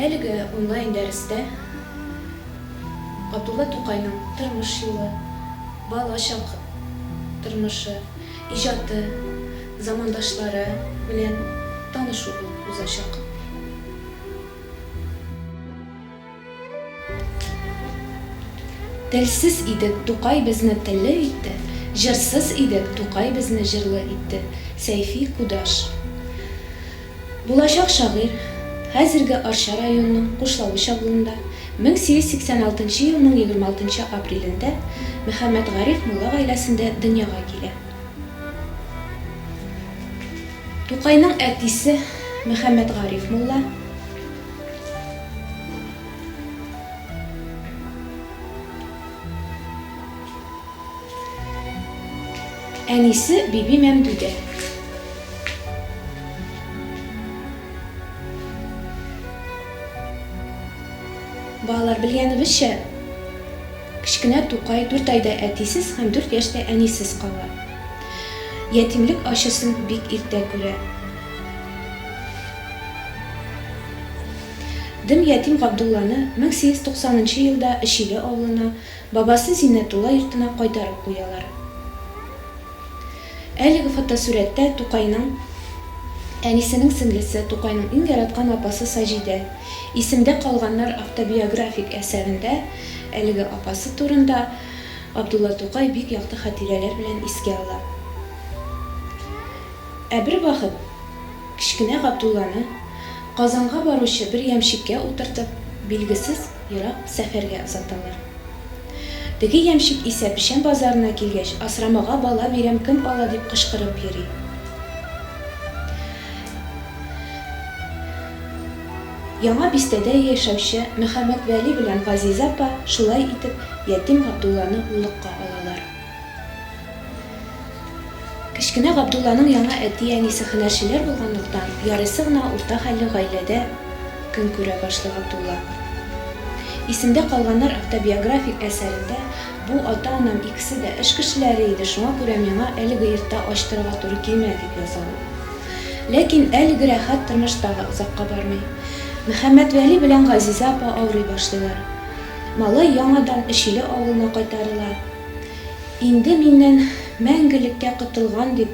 Әлеге онлайн-дәрестә Габдулла Тукайның тормыш юлы, бала чак тормышы, иҗаты, замандашлары белән танышу булып узачак. Телсез идек, Тукай безне телле итте, Җырсыз идек, Тукай безне җырлы итте, Сәйфи Кудаш. Булачак шагыйрь, хәзерге Арча районының Кушлавыч авылында, 1886 елның 26 апрелендә Мөхәммәтгариф мулла гаиләсендә дөньяга килә. Тукайның әтисе Мөхәммәтгариф мулла. Әнисе Биби Мәмдүдә. Балалар, белгәнебезчә, кечкенә Тукай дүрт айда әтисез һәм дүрт яшьтә әнисез кала. Ятимлек ачысын бик иртә күрә. Дым ятим Габдулланы 1890 нчы елда Эчиле авылына, бабасы Зиннәтулла йортына кайтарып куялар. Әлеге фотосурәттә Тукайның әнисенең сеңлесе, Тукайның иң яраткан апасы Саҗидә. Исемдә калганнар автобиографик әсәрендә әлеге апасы турында Габдулла Тукай бик якты хатирәләр белән искә ала. Ә бервакыт. Кечкенә Габдулланы, Казанга баручы бер ямщикка утыртып, билгесез ерак сәфәргә озаталар. Теге ямщик исә печән базарына килгәч, Асрамага бала бирәм, кем ала, дип кычкырып йөри. Яңа Бистәдә яшәүче Мөхәммәтвәли белән Газизә апа шулай итеп ятим Габдулланы уллыкка алалар. Кечкенә Габдулланың яңа әти-әнисе һөнәрчеләр булганлыктан, ярыйсы гына урта хәлле гаиләдә көн күрә башлый Габдулла. Исемдә калганнар автобиографик әсәрендә, Бу ата-анам икесе дә эш кешеләре иде, шуңа күрә миңа әлеге йортта ачтырырга туры килмәде, дип яза ул. Ләкин әлеге рәхәт тормыш тагы озакка бармый. Мөхәммәтвәли белән Газизә апа авырый башлыйлар. Малай яңадан Өчиле авылына кайтарыла. Инде миннән мәңгелеккә котылган дип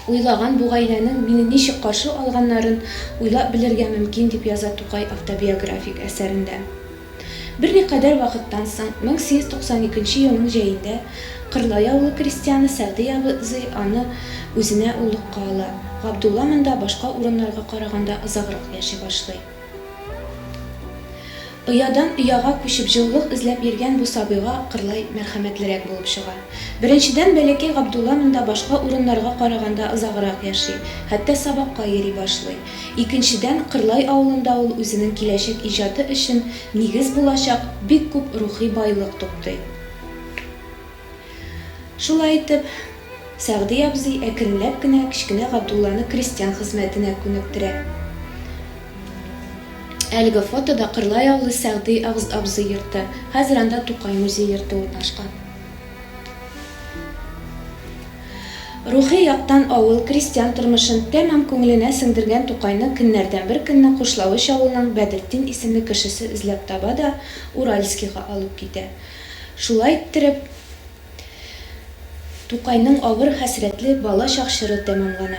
уйлаган бу гаиләнең мине ничек каршы алганнарын уйлап белергә мөмкин, дип яза Тукай автобиографик әсәрендә. Берникадәр вакыттан соң, 1892 елның җәендә Кырлай авылы крестьяны Сәгъди абзый аны үзенә уллыкка ала. Габдулла монда башка урыннарга караганда озаграк яши башлый. Оядан ояга күчеп җылылык эзләп йөргән бу сабыйга кырлай мәрхәмәтлерәк булып чыга. Беренчедән, бәләкәй Габдулла монда башка урыннарга караганда озаграк яши, хәтта сабакка йөри башлый. Икенчедән, Кырлай авылында ул үзенең киләчәк иҗаты өчен нигез булачак бик күп рухи байлык туплый. Шулай итеп, Сәгъди абзый әкренләп кенә кечкенә Габдулланы крестьян хезмәтенә күнектерә. Әлеге фотода Кырлай авылы Сәгъди абзый йорты, хәзер анда Тукай музей йорты урнашкан. Рухи яктан авыл, крестьян тормышын тәмам күңеленә сеңдергән Тукайны көннәрдән бер көнне Кушлавыч авылының Бәдретдин исемле кешесе эзләп таба да Уральскига алып китә. Шулай иттереп, Тукайның авыр хәсрәтле бала чак чоры тәмамлана.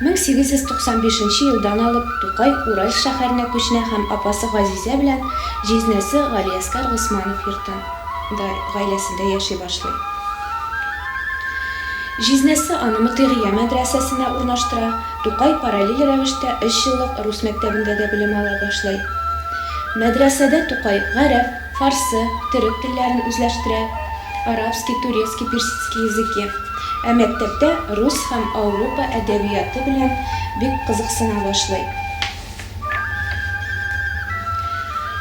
1895 нче елдан алып Тукай Уральск шәһәренә күченә һәм апасы Газизә белән җизнәсе Галиәскар Госманов йортында, гаиләсендә яши башлый. Җизнәсе аны Мотыйгия мәдрәсәсенә урнаштыра. Тукай параллель рәвештә өч еллык рус мәктәбендә дә белем ала башлый. Мәдрәсәдә Тукай гарәп, фарсы, төрек телләрен үзләштерә, арабский, турецкий, персидский языки, ә мәктәптә рус һәм Аурупа әдәбияты белән бик кызыксына башлый.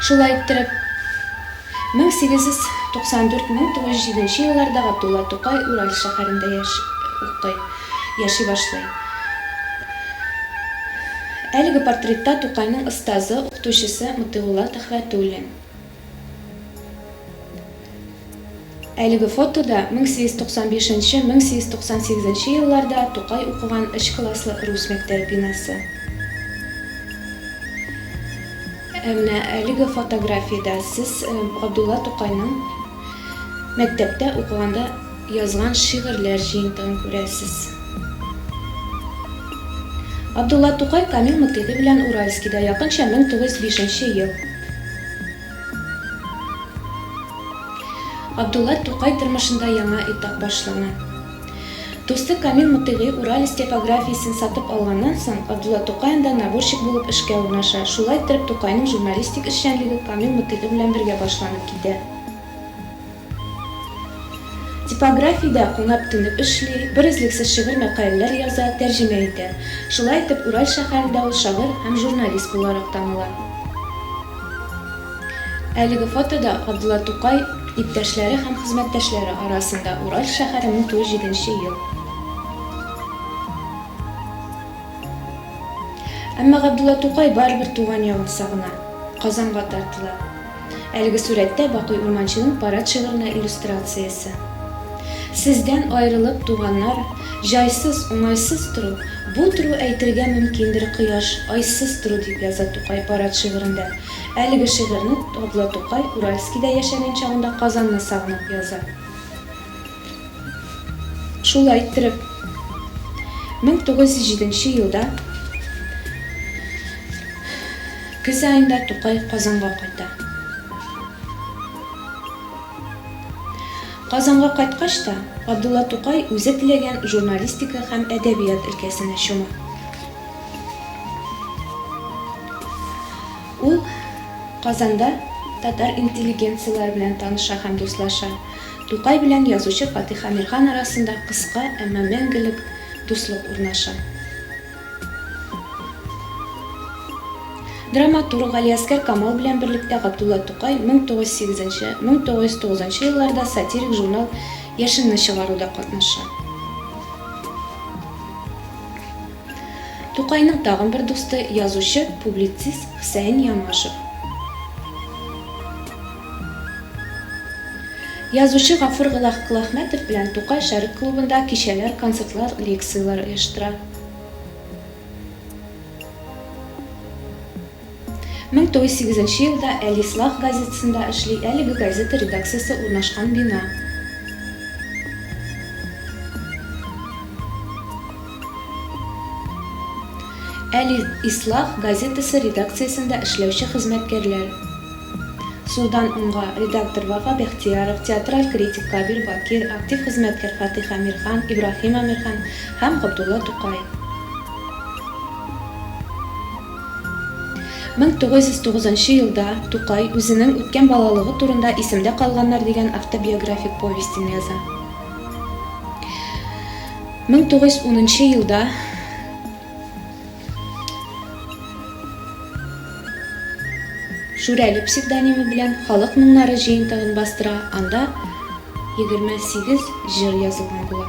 Шулай иттереп, 1894-1907 елларда Габдулла Тукай Ураль шәһәрендә яши, укый, яши башлый. Әлеге портретта Тукайның остазы, укытучысы Мотыйгулла Төхвәтуллин. Әлеге фотода 1895-1898 елларда Тукай укыган өч класслы рус мәктәбе бинасы. Ә менә әлеге фотографиядә сез Габдулла Тукайның мәктәптә укыганда язган шигырьләр җыентыгын күрәсез. Габдулла Тукай Камил Мөкеди белән Уральскида якынча 1905 нче ел. Габдулла Тукай тормышында яңа этап башлана. Дусты Камил Мотыйгый Уралец типографиясен сатып алганнан соң, Абдулла Тукай анда наборщик булып эшкә урнаша. Шулай иттереп, Тукайның журналистик эшчәнлеге Камил Мотыйгый белән бергә башланып китә. Типографиядә кунып-тынып эшли, берөзлексез шигырь мәкаләләр яза, тәрҗемә итә. Шулай итеп, Ураль шәһәрендә ул шагыйрь һәм журналист буларак таныла. Әлеге фотода Габдулла Тукай иптәшләре һәм хезмәттәшләре арасында, Уральск шәһәре, 1907 ел. Әмма Габдулла Тукай барыбер туган ягын сагына, Казанга тартыла. Әлеге сурәттә Бакый Урманчының парад шигыренә иллюстрациясе. Сездән аерылып, туганнар, Җайсыз, уңайсыз тору, бу тору Әйтергә мөмкиндер кояш, айсыз тору, дип яза Тукай парад шигырендә. Әлеге шигырьне Габдулла Тукай Уральскида яшәгән чагында Казанны сагынып яза. Шулай иттереп, 1907 нче елда көз аенда Тукай Казанга кайта. Казанга кайткач та, Габдулла Тукай үзе теләгән журналистика һәм әдәбият өлкәсенә чума. Ул Казанда татар интеллигенцияләре белән таныша һәм дуслаша. Тукай белән язучы Фатих Әмирхан арасында кыска, әмма мәңгелек дуслык урнаша. Драматург Галиәсгар Камал белән берлектә Габдулла Тукай 1908 1909 елларда сатирик журнал Яшенне чыгаруда катнаша. Тукайның тагын бер дусты, язучы, публицист Хөсәен Ямашев. Язучы Гафур Глахмәтов белән Тукай Шәрык клубында кичәләр, концертлар, лекцияләр оештыра. Мең тугыз сигезенче елда Әлислах газетасында эшли, әлеге газета редакциясе урнашкан бина. Әли ислах газетасы редакциясендә эшләүче хезмәткәрләр. Сулдан уңга, редактор Вафа Бәхтияров, театраль критик Кабир Бакир, актив хезмәткәр Фатих Әмирхан, Ибраһим Әмирхан һәм Габдулла Тукай. 1909 нчы елда Тукай үзенең үткән балалыгы турында Исемдә калганнар дигән автобиографик повестен яза. 1910 нчы елда Шүрәле псевдонимы белән Халык моңнары җыентыгын бастыра, анда 28 җыр язылган була.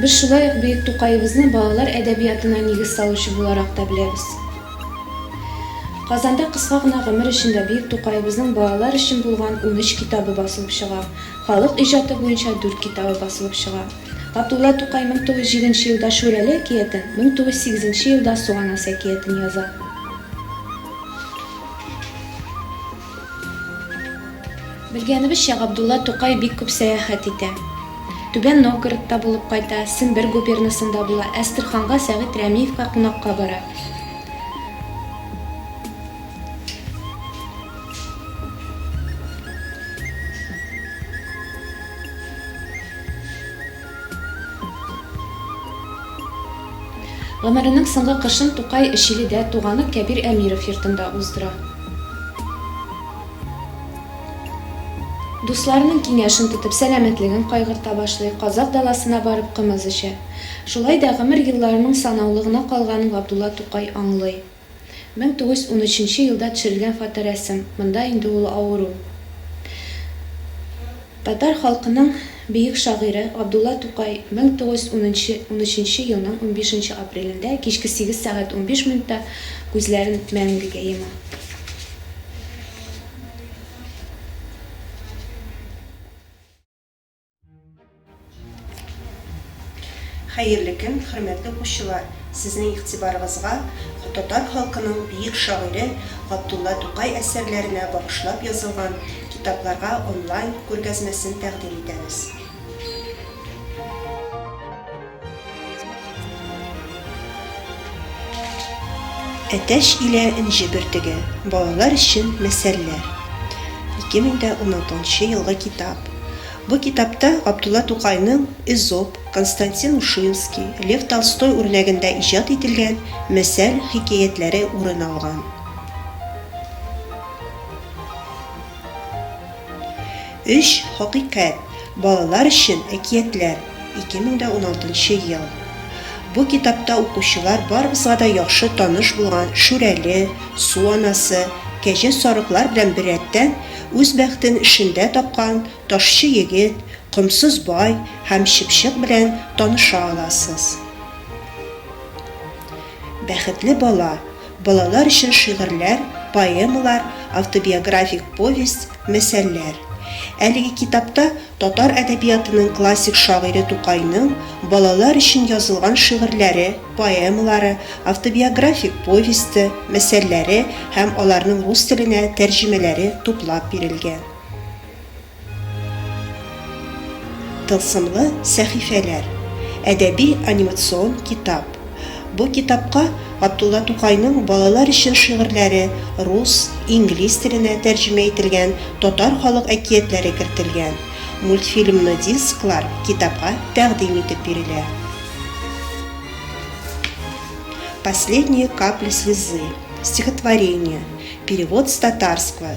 Без шулай ук бөек Тукаебызны балалар әдәбиятына нигез салучы буларак та беләбез. Казанда кыска гына гомер эчендә бөек Тукаебызның балалар өчен булган унөч китабы басылып чыга, халык иҗаты буенча дүрт китабы басылып чыга. Габдулла Тукай 1007 нче елда Шүрәле әкиятен, 1008 нче елда Суганас әкиятен яза. Белгәнебезчә, Габдулла Тукай бик күп сәяхәт итә. Түбән Новгородта булып кайта, Сембер губернасында була, Әстерханга Сәгыйть Рәмиевка кунакка бара. Гомеренең соңгы кышын Тукай Чиледә, туганы Кәбир Әмиров йортында уздыра. Дусларының киңәшен тотып, сәламәтлеген кайгырта башлый, Казакъ даласына барып кымыз эчә. Шулай да гомер елларының санаулы гына калганын Габдулла Тукай аңлый. Мең тугыз йөз унөченче елда төшерелгән фоторәсем, монда инде ул авыру. Татар халкының бөек шагыйре Габдулла Тукай мең тугыз йөз унынчы унөченче елның унбишенче апрелендә кичке сигез сәгать унбиш минутта күзләрен мәңгегә йома. Хәерле көн, хөрмәтле укучылар! Сезнең игътибарыгызга татар халкының бөек шагыйре Габдулла Тукай әсәрләренә багышлап язылган китапларга онлайн күргәзмәсен тәкъдим итәбез. Әтәч илә энҗе бөртеге. Балалар өчен мәсәлләр. 2016 елгы китап. Бу китапта Габдулла Тукайның Эзоп, Константин Ушинский, Лев Толстой үрнәгендә иҗат ителгән мәсәл хикәятләре урын алган. Өч хакыйкать, балалар өчен әкиятләр, 2016 ел Бу китапта укучылар барыбызга да яхшы таныш булган Шүрәле, Су анасы, Кәҗә сарыклар белән беррәттән, үз бәхтен эшендә тапкан Ташчы егет, Комсыз бай һәм Чыпчык белән таныша аласыз. Бәхетле бала, Балалар өчен шигырьләр, поэмалар, автобиографик повесть, мәсәлләр. Әлеге китапта татар әдәбиятының классик шагыйре Тукайның балалар өчен язылган шигырьләре, поэмалары, автобиографик повесте, мәсәлләре һәм аларның рус теленә тәрҗемәләре туплап бирелгән. Тылсымлы сәхифәләр, әдәби-анимацион китап. Бу китапка Габдулла Тукайның балалар өчен шигырьләре рус, инглиз теленә тәрҗемә ителгән татар халык әкиятләре кертелгән. Мультфильмны дисклар китапка тәкъдим итеп бирелә. Последние капли слезы, стихотворение, перевод с татарского,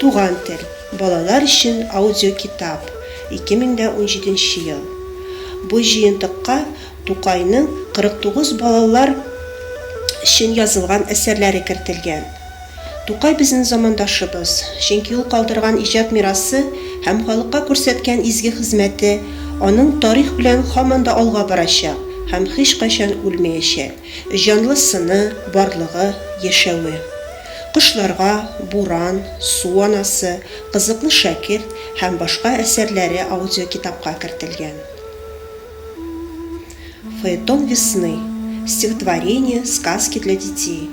Туган тел. Балалар өчен аудиокитап, 2017 ел. Бу җыентыкка Тукайның 49 балалар өчен язылган әсәрләре кертелгән. Тукай безнең замандашыбыз, чөнки ул калдырган иҗат мирасы һәм халыкка күрсәткән изге хезмәте аның тарих белән һаман да алга барачак һәм һичкайчан үлмәячәк. Җанлы сыны, барлыгы, яшәве. Кошларга, Буран, Су анасы, Кызыклы шәкерт һәм башка әсәрләре аудиокитапка кертелгән. Фаэтон весны, Стихотворения, сказки для детей,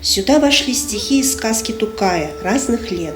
Сюда вошли стихи и сказки Тукая, разных лет,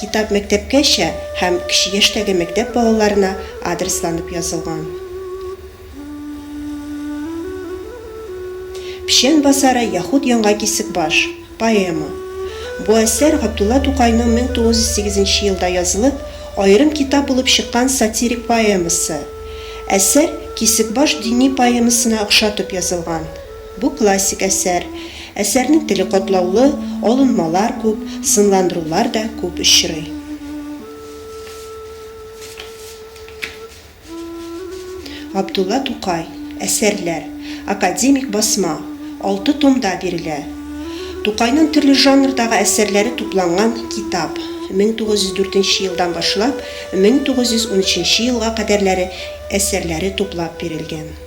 Китап мәктәпкәчә һәм кече яшьтәге мәктәп балаларына адресланып язылган. Печән басары яхуд яңа кисекбаш. Поэма. Бу әсәр Габдулла Тукайның 1908 нче елда язылып, аерым китап булып чыккан сатирик поэмасы. Әсәр Кисекбаш дини поэмасына охшатып язылган. Бу классик әсәр. Әсәрнең теле катлаулы, алынмалар күп, сынландырулар да күп очрый. Габдулла Тукай, Әсәрләр. Академик басма. Алты томда бирелә. Тукайның төрле жанрдагы әсәрләре тупланган китап. 1904 елдан башлап 1913 елга кадәрләре әсәрләре туплап бирелгән.